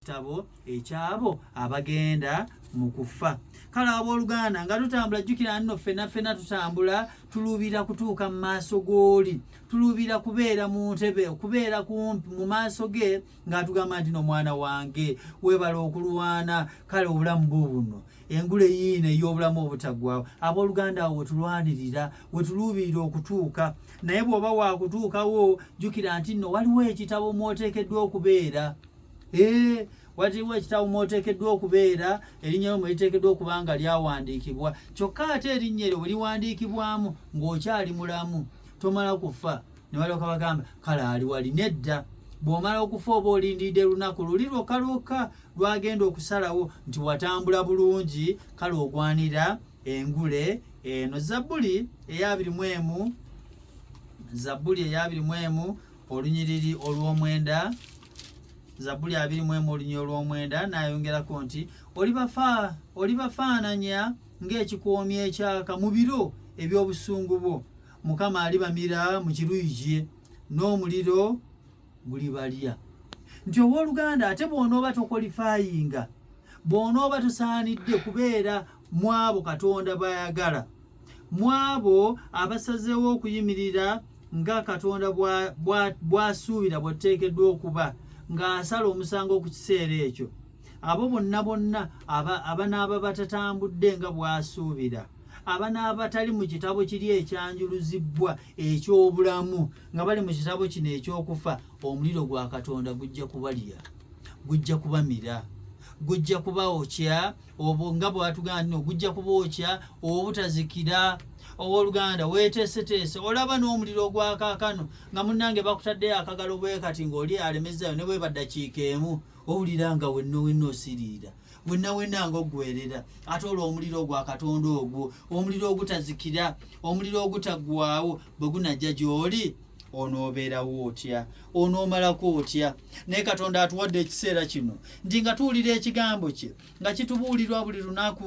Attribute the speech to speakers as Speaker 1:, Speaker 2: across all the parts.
Speaker 1: kitabo ekyabo abagenda mu kufa kale abooluganda nga tutambula jjukira nno ffena ffena tutambula tuluubira kutuuka mu maaso g'oli tuluubira kubeera mu ntebe okubeera kumpi mu maaso ge ng'atugamba nti nomwana wange weebala okulwana kale obulamu bwo buno engule yiino ey'obulamu obutaggwawo abooluganda awo wetulwanirira wetuluubirira okutuuka naye bw'oba waakutuukawo jjukira nti nno waliwo ekitabo mw'oteekeddwa okubeera Eh, waliwo ekitabo mwoteekeddwa okubeera erinnya lyo mweriteekeddwa okuba nga lyawandiikibwa kyokka ate erinnya eryo bwe liwandiikibwamu ng'okyali mulamu tomala kufa ne balyoka bagamba kale ali wali nedda bw'omala okufa oba olindiridde lunaku luli lwokka lwokka lwagenda okusalawo nti watambula bulungi kale ogwanira engule eno zabbuli eyabiri mu emu zabbuli eyabiri mu emu olunyiriri olw'omwenda zabuli abiri mu emu olunya olw'omwenda n'ayongerako nti olibafaananya ng'ekikoomi ekyaka mu biro eby'obusungu bwo mukama alibamira mu kiruyi kye n'omuliro gulibalya nti ow'oluganda ate bw'onooba tokolifayinga bw'onooba tosaanidde kubeera mwabo katonda bayagala mwabo abasazeewo okuyimirira nga katonda bwasuubira bwateekeddwa okuba ng'asala omusango ku kiseera ekyo abo bonna bonna abanaaba batatambudde nga bwasuubira abanaaba tali mu kitabo kiri ekyanjuluzibbwa eky'obulamu nga bali mu kitabo kino eky'okufa omuliro gwa katonda gujja kubalya gujja kubamira gujja kubaokya obwo nga bwatugamba nti ogujja kubookya obutazikira owoluganda weteeseteese olaba n'omuliro ogwakaakano nga munnange bakutaddeyo akagalo bwekati ng'oli alemezayo ne bweba ddakiika emu owulira nga wenna wenna osiriira wenna wenna nga oggwerera ate olwo omuliro ogwa katonda ogwo omuliro ogutazikira omuliro ogutaggwawo bwe gunajja gy'oli onoobeerawo otya onoomalako otya naye katonda atuwadde ekiseera kino nti nga tuwulira ekigambo kye nga kitubuulirwa buli lunaku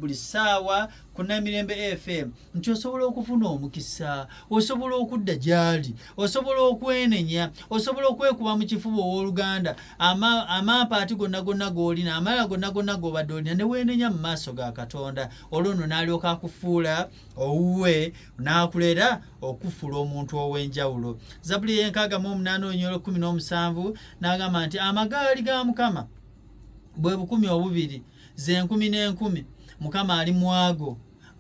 Speaker 1: buli ssaawa ku namirembe fm nti osobola okufuna omukisa osobola okudda gyali osobola okwenenya osobola okwekuba mu kifuba ow'oluganda amampaati gonna gonna g'olina amala gonna gonna g'obadde olina ne weenenya mu maaso ga katonda olwo no n'alyoka akufuula owuwe n'akulera okufuula omuntu ow'enjawulo zabuli y'enkaaga mu omunaana olunyolo kumi n'omusanvu n'agamba nti amagaali ga mukama bwe bukumi obubiri ze nkumi n'enkumi mukama ali mwago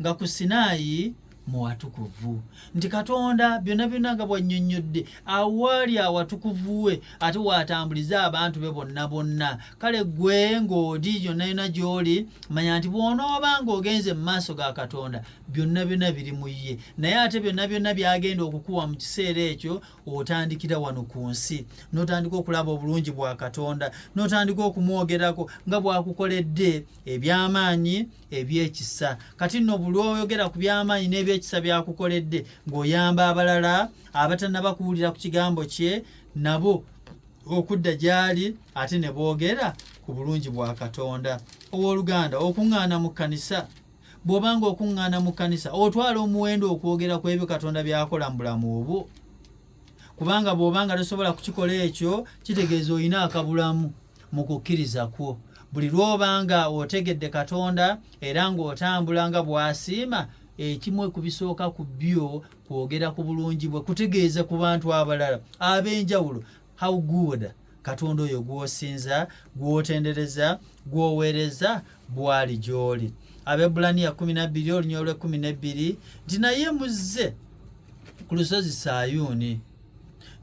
Speaker 1: nga ku sinaayi mu watukuvu nti katonda byonna byonna nga bwannyonnyodde awaali awatukuvu we ate waatambuliza abantu be bonna bonna kale gwe ng'oli yonna yonna gy'oli manya nti bw'onooba ng'ogenze mu maaso ga katonda byonna byonna biri mu ye naye ate byonna byonna byagenda okukuwa mu kiseera ekyo otandikira wano ku nsi n'otandika okulaba obulungi bwa katonda n'otandika okumwogerako nga bw'akukoledde eby'amaanyi eby'ekisa kati nno buli oyogera ku by'amaanyi n'ebyekisa by'akukoledde ng'oyamba abalala abatanaba kuwulira ku kigambo kye nabo okudda gy'ali ate ne boogera ku bulungi bwa katonda ow'oluganda okuŋŋaana mu kkanisa bw'oba nga okuŋŋaana mu kkanisa otwala omuwendo okwogera ku ebyo katonda by'akola mu bulamu obwo kubanga bw'oba nga tosobola kukikola ekyo kitegeeza olina akabulamu mu kukkiriza kwo buli lw'oba nga otegedde katonda era ng'otambula nga bw'asiima ekimu ekubisooka ku byo kwogera ku bulungi bwe kutegeeza ku bantu abalala ab'enjawulo how good katonda oyo gw'osinza gw'otendereza gw'oweereza bwali gy'oli abebulaniya 12 olunya olwe 12 nti naye muzze ku lusozi sayuuni